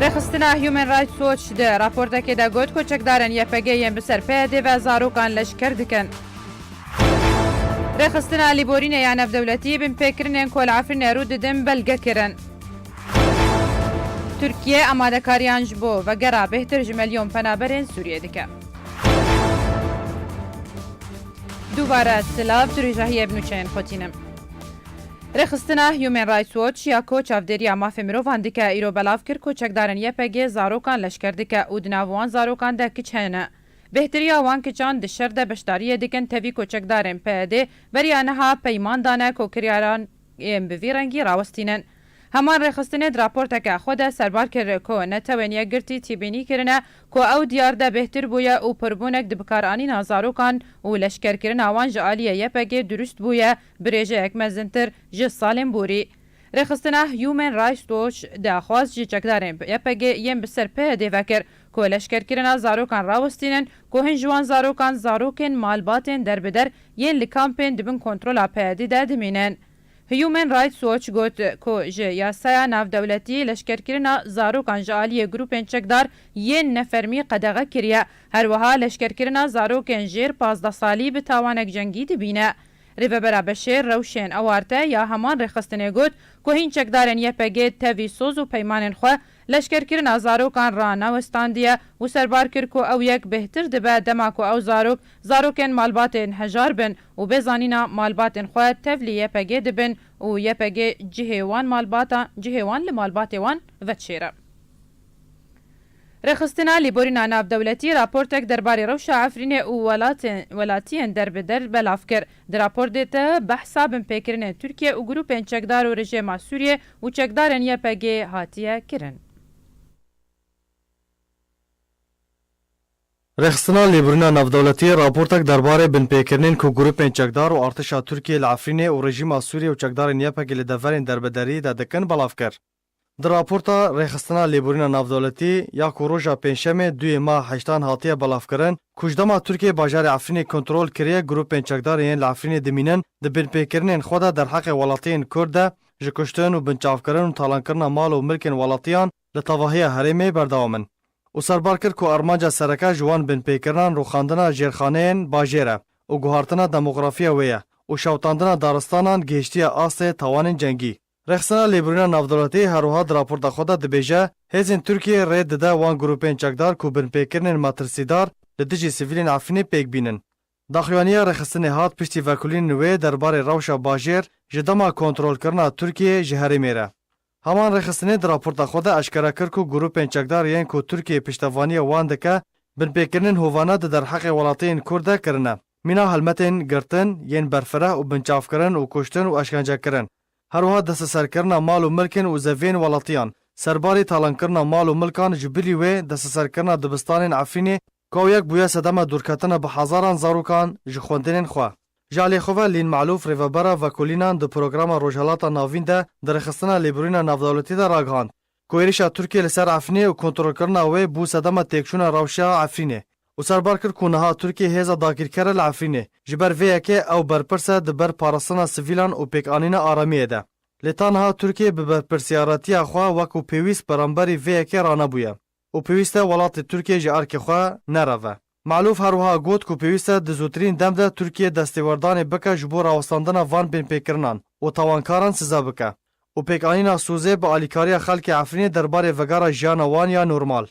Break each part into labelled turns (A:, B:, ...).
A: Rêxistina Human Rights Watch di raportekê de got ku çekdarên YPG'ê yên bi ser PYD'ê ve zarokan leşker dikin. Rêxistina Lîborînê ya Navdewletî binpêkirinên ku li Efrînê rû didin belge kirin. Tirkiye amadekariyan ji bo vegera bêhtir ji milyon penaberên Sûriyê dike. Dubare silav tu rîjahiyê bi nûçeyên xwe tînim. Rêxistina Human Rights Watch ya ku çavdêriya mafê mirovan dike îro belav kir ku çekdarên YPG'ê zarokan leşker dike û di nav wan zarokan de kiç hene. Bêhtirîya wan kiçan di şer de beşdariyê dikin tevî ku çekdarên PYD'ê beriya niha peyman dane ku kiryaran yên bi vî rengî rawestînin. Heman rêxistinê di raporteke xwe de serbar kir ku netewên yekgirtî tîbînî kirine ku ew diyar de bêhtir bûye û pirbûnek di bikaranîna zarokan û leşkerkirina wan ji aliyê YPG'ê dirust bûye Birêjeyek mezintir ji Salêm Borî, Rêxistina Human Rights Watch daxwaz ji çekdarên YPG'ê yên bi ser PYD'ê ve kir ku leşkerkirina zarokan rawestînin ku hin ji wan zarokan zarokên malbatên derbider yên li kampên di bin kontrola PYD'ê de dimînin. Human Rights Watch got ku ji yasaya navdewletiyê leşkerkirina zarokan ji aliyê grûpên çekdar yên nefermî qedexe kiriye, herwiha leşkerkirina zarokên jêr pazdeh salî bi tawanek cengî dibîne. Rêvebera Beşêr rewşên awarte ya heman rêxistinê got ku hîn çekdarên YPG'ê tevî soz û peymanên xwe, leşkerkirina zarokan re newestandiye û serbar kir ku ew yek bêhtir dibe dema ku ew zarok, zarokên malbatên hejar bin û bê zanîna malbatên xwe tevlî YPG'ê dibin û YPG cihê wan malbata cihê wan li malbatê wan vedişêre. Rêxistina Lêborîna Navdewletî raportek derbarê rewşa Efrînê û welatiyên derbider belav kir. Di raportê de behsa binpêkirinên Tirkiye û grûpên çekdar û rejêma Sûriyê û çekdarên YPG'ê hatiye kirin.
B: Rêxistina Lêborîna Navdewletî raportek derbarê binpêkirinên ku grûpên çekdar û artêşa Tirkiyê li Efrînê û rejîma Sûriyê û çekdarên YPG'ê li deverên derbederiyê de dikin belav kir. Di raporta Rêxistina Lêborîna Navdewletî ya ku roja Pêncşemê duyê ma heştan hatiye belavkirin, ku ji dema Tirkiyeyê bajarê Efrînê kontrol kiriye grûpên çekdarên yên li Efrînê dimînin di binpêkirinên xwe de derheqê welatiyên Kurd de ji kuştin û binçavkirin û talankirina mal û milkên welatiyan li tevahiya herêmê berdewam in û serbar kir ku armanca sereke ji wan binpêkirinan rûxandina jêrxaneyên bajêr e û guhartina demografiya wê ye û şewitandina daristanan gihiştiye astê tawanên cengî. Rexsana lêbirîna navdewletî her wiha di raporta xwe de dibêje, Hêzên Tirkiyeyê rê dide wan grûpên çekdar ku binpêkirinên matirsîdar li dijî sivîlên Efrînê pêk bînin. Daxuyaniya rêxistinê hat piştî vekulînên wê der barê rewşa bajêr ji dema kontrolkirina Tirkiyeyê ji herêmê re. Heman rêxistinê di raporta xwe de eşkere kir ku grûpên çekdar yên ku Tirkiyê piştevaniya wan dike, binpêkirinên hovane di derheqê welatiyên Kurd de kirine. Mîna helmetên girtin yên berfireh û binçavkirin û kuştin û eşkencekirin, herwiha desteserkirina mal û milkên û zeviyên welatiyan, serbarî talankirina mal û milkan ji bilî wê desteserkirina dibistanên Efrînê ka yek bûye sedema dûrketina bi hezaran zarokan ji xwendinên xwe. Ji aliyê xwe ve Lîn Malûf rêvebera Vekolînan di programa Rojhilata Navîn de dirêxistina lêbirûyina navdewletî de ragihand, ku êrîşa Tirkiyê li ser Efrînê û kontrolkirina wê bû sedema têkçûna rewşa Efrînê û serbar kir ku niha Tirkiye hêza dagîrker e li Efrînê. Ji ber vê yekê ew berpirs e di ber parastina sivîlan û pêkanîna aramiyê de. Lê ta niha Tirkiye bi berpirsiyaretiya xwe wekû pêwîst beramberî vê yekê ranebûye û pêwîst e welatê Tirkiye ji erkê xwe nereve. Malûf her wiha got ku pêwîst e di zûtirîn dem de Tirkiye destêwerdanê bike ji bo rawestandina van binpêkirinan û tawankaran size bike û pêkanîna sozê bi alîkariya xelkê Efrînê derbarê vegara jiyana wan ya normal.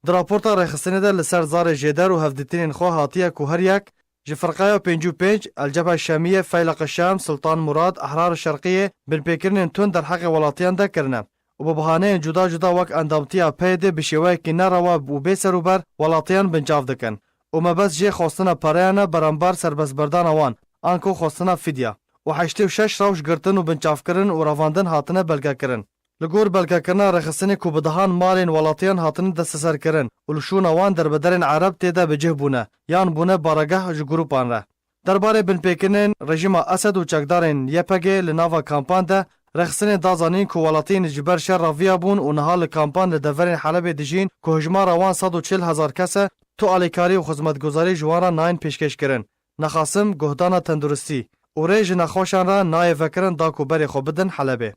B: Di raporta rêxistinê de li ser zarê jêder û hevdîtinên xwe hatiye ku her yek ji Firqeya Pêncî û Pênc, El Cebhe Şemîye, Feyleq-i Şems, Sultan Murad, Ehrar-i Şerqîyê, binpêkirinên tund derheqê welatiyan de kirine. û bi bahaneyên cuda cuda wek endamtiya PYD'ê bi şêweyekî nerewa û bê serûber welatiyan binçav dikin û mebest jê xwestina pereyan e berembar serbestberdana wan anko xwestina fidya û heştê û şeş rewş girtin û binçavkirin û revandin hatine belgekirin. Li gor belgekirina rêxistinê ku bi dehan malên welatiyan hatine desteserkirin û li şûna wan derbederên ereb tê de bi cih bûne yan bûne baregeh ji grûpan re Derbarê binpêkirinên rejîma Esed û çekdarên YPG'ê li nava kampan de, Rexsinê da zanîn ku welatiyên ji ber şer re viyabûn û niha li kampan li deverên Helebê dijîn ku hijmara wan sed û çil hezar kes e, tu alîkarî û xizmetguzarî ji wan re nayên pêşkêşkirin. Nexasim, guhdana tenduristî û rê ji nexweşan re nayê vekirin da ku berê xwe bidin Helebê.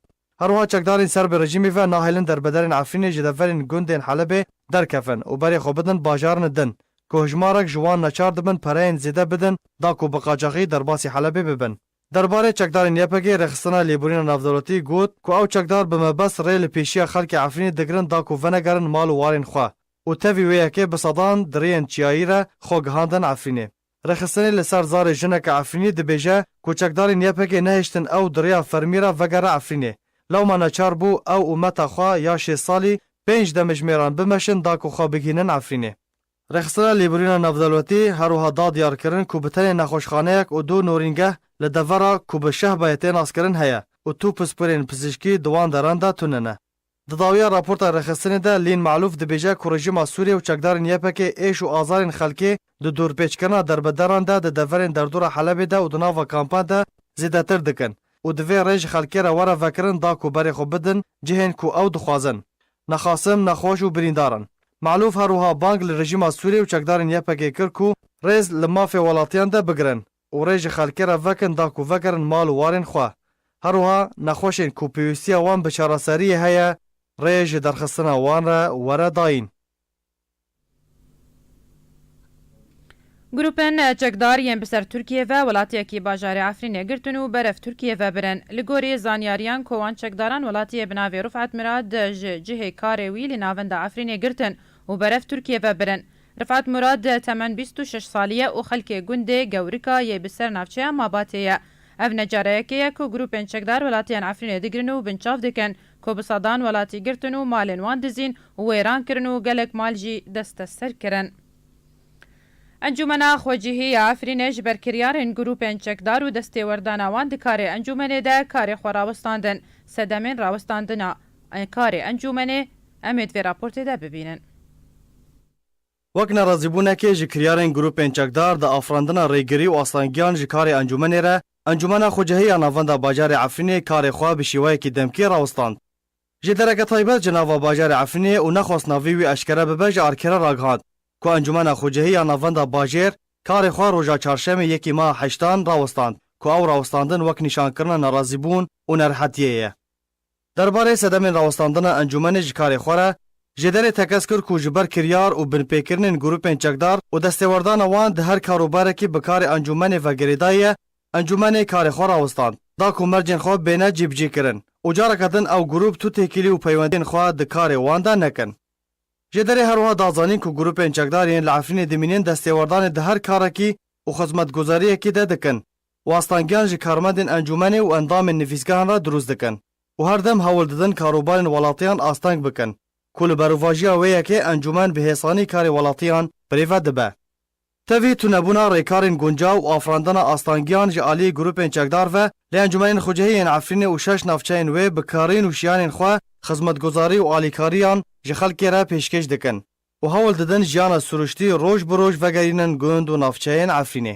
B: Herwiha çekdarên ser bi rejîmê ve nahêlin derbederên Efrînê ji deverên gundên Helebê derkevin û berê xwe bidin bajarn din ku hijmarek ji wan neçar dibin pereyên zêde bidin da ku bi qacaxî derbasî Helebê bibin. Derbarê çekdarên YPG'ê Rêxistina Lêborîna Navdewletî got ku ew çekdar bi mebest rê li pêşiya xelkê Efrînê digirin da ku venegerin mal û warên xwe û tevî wê yekê bi sedan diriyên çiyayî re xwe gihandin Efrînê. Rêxistinê li ser zarê jineke Efrînî dibêje ku çekdarên YPG'ê nehiştin ew di rêya fermî re vegere Efrînê. Lewma neçar bû ew û meta xwe ya şêst salî pênc demijimêran bimeşin da ku xwe bigihînin Efrînê. Rêxistina Lêbirîna Navdewletî her wiha da diyar kirin ku bi tenê nexweşxaneyek û du norîngeh li devera ku bi şehbayê tê naskirin heye û tu pispirên pizîşkî di wan deran de tune ne. Di dawiya raporta rêxistinê de Lîn Malûf dibêje ku rejîma Sûriyê û çekdarên YPK'ê êş û azarên xelkê di dorpêçkirina derbederan de di deverên derdora Helebê de û di nava kampan de zêdetir dikin û divê rê ji xelkê re were vekirin da ku berê xwe bidin cihên ku ew dixwazin nexasim, nexweş û birîndar in. Malûf her wiha bang li rejîma Sûriyê û çekdarên YPK'ê kir ku rêz li mafê welatiyan de bigirin. û rê ji xelkê re vekin da ku vegerin mal û warên xwe. Herwiha nexweşên ku pêwîstiya wan bi çareseriyê heye rê ji derxistina wan re were dayîn.
A: Grûpên çekdar yên bi ser Tirkiyê ve welatiyekî bajarê Efrînê girtin û berev Tirkiyê ve birin. Li gorî zanyariyan ku wan çekdaran welatiyê bi navê Rifet Mirad ji cihê karê wî li navenda Efrînê girtin û berev Tirkiyê ve birin. Rifat Murad temen bîst û şeş salî ye û xelkê gundê Gewrika yê bi ser navçeya Mabatê ye. Ev ne careyekê ye ku grûpên çekdar welatiyan Efrînê digirin û binçav dikin ku bi sedan welatî girtin û malên wan dizîn û wêran kirin û gelek mal jî desteser kirin. Encûmena Xwecihî ya Efrînê ji ber kiryarên grûpên çekdar û destêwerdana wan di karê encûmenê de karê xwe rawestandin, sedemên rawestandina karê encûmenê em ê di vê raportê de bibînin.
B: Wek nerazîbûnekê ji kiryarên grûpên çekdar di afirandina rêgirî û astangiyan ji karê encûmenê re, Encûmena Xwecihî ya Navenda Bajarê Efrînê karê xwe bi şîweyekî demkî rawistand. Ji dereke taybet ji nava bajarê Efrînê û nexwest navî wî eşkere bibe ji arkêre ragihand ku Encûmena Xwecihî ya Navenda Bajêr karê xwe roja çarşemê yekî meha heştan rawistand ku ew rawistandin wek nîşankirina nerazîbûn û nerihetiyê ye. Derbarê sedemên rawestandina encûmenê ji karê xwe re, Jêderê tekez kir ku ji ber kiryar û binpêkirinên grûpên çekdar û destêwerdana wan di her kar û barekî bi karê encûmenê ve girêdayî ye, encûmenê karê xwe rawestand, da ku mercên xwe bêne cîbicîkirin û careke din ew grûp tu têkilî û peywendiyên xwe di karê wan de nekin. Jêderê her wiha da zanîn ku grûpên çekdar yên li Efrînê dimînin destêwerdanê di her karekî û xizmetguzariyekî de dikin Wastangiyan ji karmendên encûmenê û endamên nivîsgehan re dirûst dikin û her dem hewl didin karûbarên welatiyan asteng bikin ku li berovajiya wê yekê encûmen bi hêsanî karê welatiyan birê ve dibe. Tevî tunebûna rêkarên guncaw û afirandina astangiyan ji aliyê grûpên çekdar ve li encûmenên xucehî yên Efrînê û şeş navçeyên wê bi karîn û şiyanên xwe xizmetguzarî û alîkariyan ji xelkê re pêşkêş dikin û hewl didin jiyana sirûştî roj bi roj vegerînin gund û navçeyên Efrînê.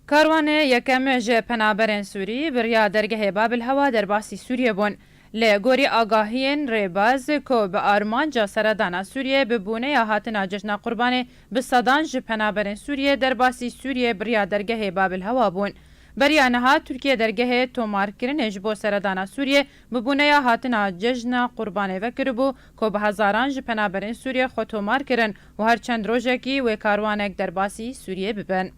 A: Karwanê yekem ji penaberên Sûrî biriya dergehê Babilhewa derbasî Sûriyê bûn. Li gorî agahiyên rêbaz ku bi armanca seredana Sûriyê bi bûneya hatina Cejna Qurbanê bi sedan ji penaberên Sûriyê derbasî Sûriyê biriya dergehê Babilhewa bûn. Beriya niha Tirkiye dergehê tomarkirinê ji bo seredana Sûriyê bi bûneya hatina Cejna Qurbanê vekiribû ku bi hezaran ji penaberên Sûriyê xwe tomar kirin û her çend rojekî wê karwanek derbasî Sûriyê bibin.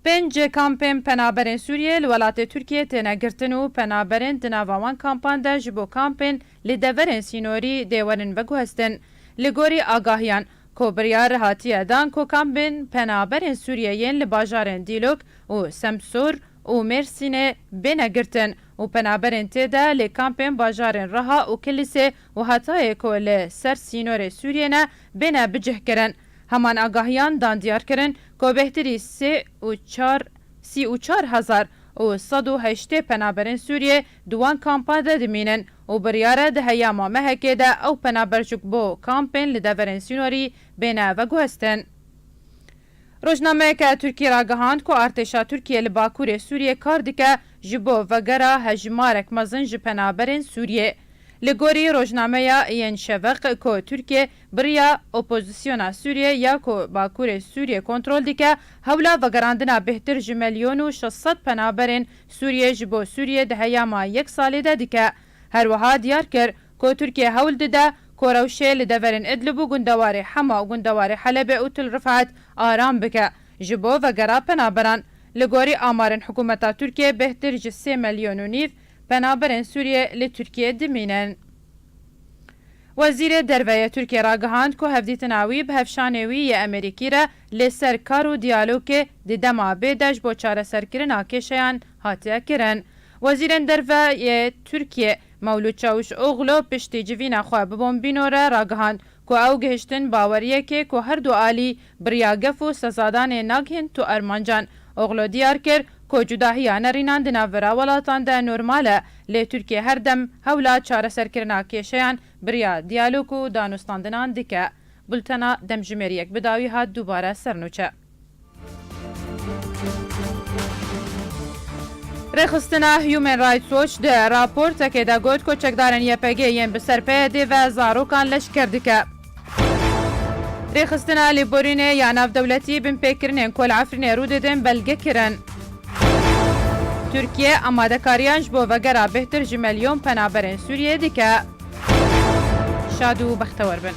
A: Pênc kampên penaberên Sûriyê li welatê Tirkiyê têne girtin û penaberên di nava wan kampan de ji bo kampên li deverên sînorî dê werin veguhestin. Li gorî agahiyan, ku biryar hatiye dan ku kampên penaberên Sûriyê yên li bajarên Dîlok û Semsûr û Mêrsînê bêne girtin û penaberên tê de lê kampên bajarên Riha û Kilîsê û hatayê ku li ser sînorê Sûriyê ne bêne bicihkirin. Heman agahiyan dan diyar kirin ku bêhtirî sê û çar sî û çar hezar û sed û heştê penaberên Sûriyê di wan kampan de dimînin û biryar e di heyama mehekê de ew penabercik bo kampên li deverên sînorî bêne veguhestin. Rojnameyeke Tirkî ragihand ku artêşa Tirkiyê li Bakurê Sûriyê kar dike ji bo vegera hejmarek mezin ji penaberên Sûriyê. Li gorî rojnameya Yen Şeveq ku Tirkiyê biriya opozisyona Sûriyê ya ku Bakurê Sûriyê kontrol dike, hewla vegerandina bêhtir ji melyon û şeş sed penaberên Sûriyê ji bo Sûriyê di heyama yek salê de dike. Herwiha diyar kir Ku Tirkiye hewl dide ku rewşê li deverên Idlib û gundewarê Hema û gundewarê Helebê û Til Rifat aram bike ji bo vegera penaberan. Li gorî amarên hikûmeta Tirkiyê bêhtir ji sê melyon û nîv penaberên Sûriyê li Tirkiyê dimînin. Wezîrê Derve yê Tirkiyê ragihand ku hevdîtina wî bi hevşanê wî yê Emerîkî re lê ser kar û diyalogê di dema bêde ji bo çareserkirina kêşeyan hatiye kirin. Wezîrên Derve yê Tirkiyê. Mewlûd Çawûşoglu piştî civîna xwe bi Bombîno re ragihand ku ew gihiştin baweriyekê ku her du alî biriya gef û sezadanê nagihîn tu armancan. Oglu diyar kir ku cudahiya nerînan di navbera welatan de normal e, lê Tirkiye her dem hewla çareserkirina kêşeyan biriya diyalog û danûstandinan dike. Bultena Demjimêr Yekbidawî hat dubare sernûçe. Rêxistina Human Rights Watch di raportekê de got ku çekdarên YPG'ê yên bi ser PYD'ê ve zarokan leşker dike. Rêxistina Lêborînê ya Navdewletî binpêkirinên ku li Efrînê rû didin belge kirin. Tirkiye amadekariyan ji bo vegera bêhtir ji milyon penaberên Sûriyeyê dike. Şad û bextewer bin.